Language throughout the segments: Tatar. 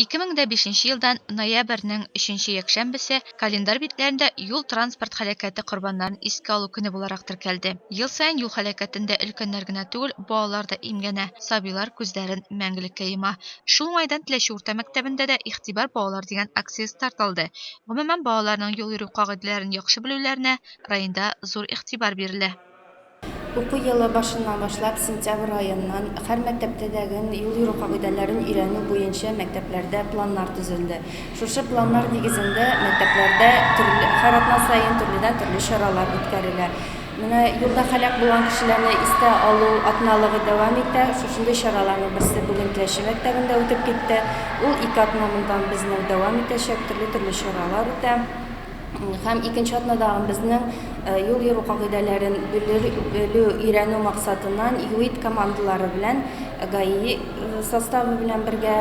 Ике мең дә бишенче елдан ноябрьнең өченче якшәмбесе календарь битләрендә юл-транспорт һәлакәте корбаннарын искә алу көне буларак теркәлде. Ел саен юл һәлакәтендә өлкәннәр генә түгел, балалар да имгәнә, сабыйлар күзләрен мәңгелеккә йома. Шул уңайдан Теләче урта мәктәбендә дә Игътибар, балалар! дигән акция старт алды. Гомумән, балаларның юл йөрү кагыйдәләрен яхшы белүләренә районда зур игътибар бирелә. Уку елы башыннан башлап сентябрь аеннан һәр мәктәптәдәген юл йөрү кагыйдәләрен өйрәнү буенча мәктәпләрдә планнар төзелде. Шушы планнар нигезендә мәктәпләрдә һәр атна саен төрледән-төрле чаралар үткәрелә. Менә юлда һәлак булган кешеләрне истә алу атналыгы дәвам итә. Шушындый чараларның берсе бүген Теләче мәктәбендә үтеп китте. Ул ике атна моннан безнең дәвам итәчәк, төрле-төрле чаралар үтә. һәм икенче атнада безнең э, юл йөрү кагыйдәләрен белү, өйрәнү максатыннан ЮИД командалары белән э, ГАИ э, составы белән бергә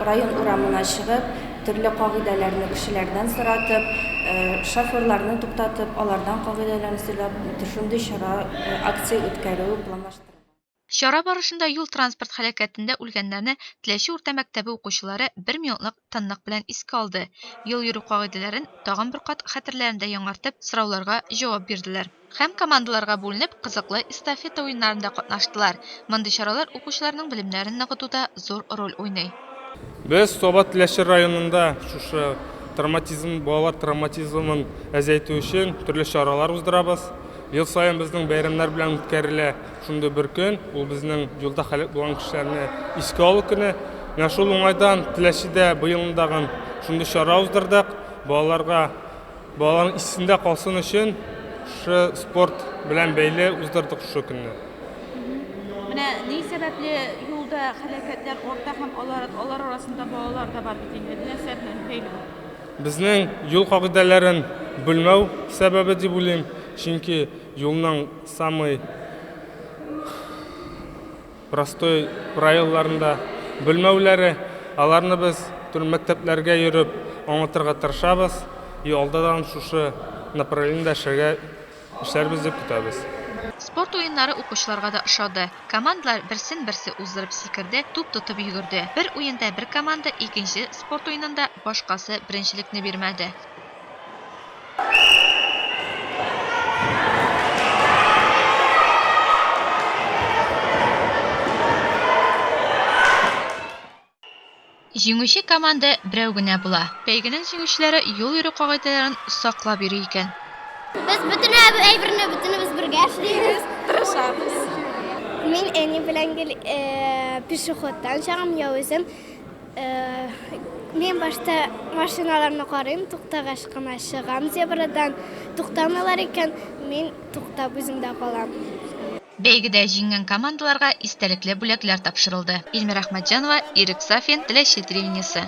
район урамына чыгып, төрле кагыйдәләрне кешеләрдән соратып, шоферларны туктатып, алардан кагыйдәләрне сөйләп, төшенде чара акция үткәрү планлаштырылган. Чара барышында юл-транспорт һәлакәтендә үлгәннәрне Теләче урта мәктәбе укучылары бер минутлык тынлык белән искә алды, юл йөрү кагыйдәләрен тагын бер кат хәтерләрендә яңартып, сорауларга җавап бирделәр. Һәм командаларга бүленеп кызыклы эстафета уеннарында катнаштылар. Мондый чаралар укучыларның белемнәрен ныгытуда зур роль уйный. Без Саба Теләче районында шушы травматизм, балалар травматизмын әзәйтү өчен төрле чаралар уздырабыз. Ел саен безнең бәйрәмнәр белән үткәрелә шундый бер көн, ул безнең юлда һәлак булган кешеләрне искә алу көне. Менә шул уңайдан Теләчедә быелны тагын шундый чара уздырдык. Балаларга Балаларның исендә калсын өчен шушы спорт белән бәйле уздырдык шушы көнне. Менә ни сәбәпле юлда хәлакәтләр арта һәм алар, алар арасында балалар да бар бит инде. Нәрсә белән бәйле бу? Безнең юл кагыйдәләрен белмәү сәбәбе дип уйлыйм, чөнки юлның самый Простой районнарын да белмәүләре, аларны без төрле мәктәпләргә йөреп аңлатырга тырышабыз и алдадан шушы направлениедә эшләргә эшләрбез дип көтәбез. Спорт уеннары укучыларга да ошады. Командалар берсен-берсе уздырып сикерде, туп тотып йөгерде. Бер уенда бер команда икенче спорт уенында башкасы беренчелекне бирмәде. Җиңүче команда берәү генә була. Бәйгенең җиңүчеләре юл йөрү кагыйдәләрен саклап йөри икән. Без бөтен әйберне бөтенебез бергә эшлибез. Тырышабыз. Мин әни белән гел пешеходтан чыгам, я үзем Мин башта машиналарны карыйм, туктагач кына чыгам зебрадан. Туктамыйлар икән, мин туктап үземдә калам. Бәйгедә җиңгән командаларга истәлекле бүләкләр тапшырылды. Ильмира Әхмәтҗанова, Ирек Сафин, Теләче телевидениесе.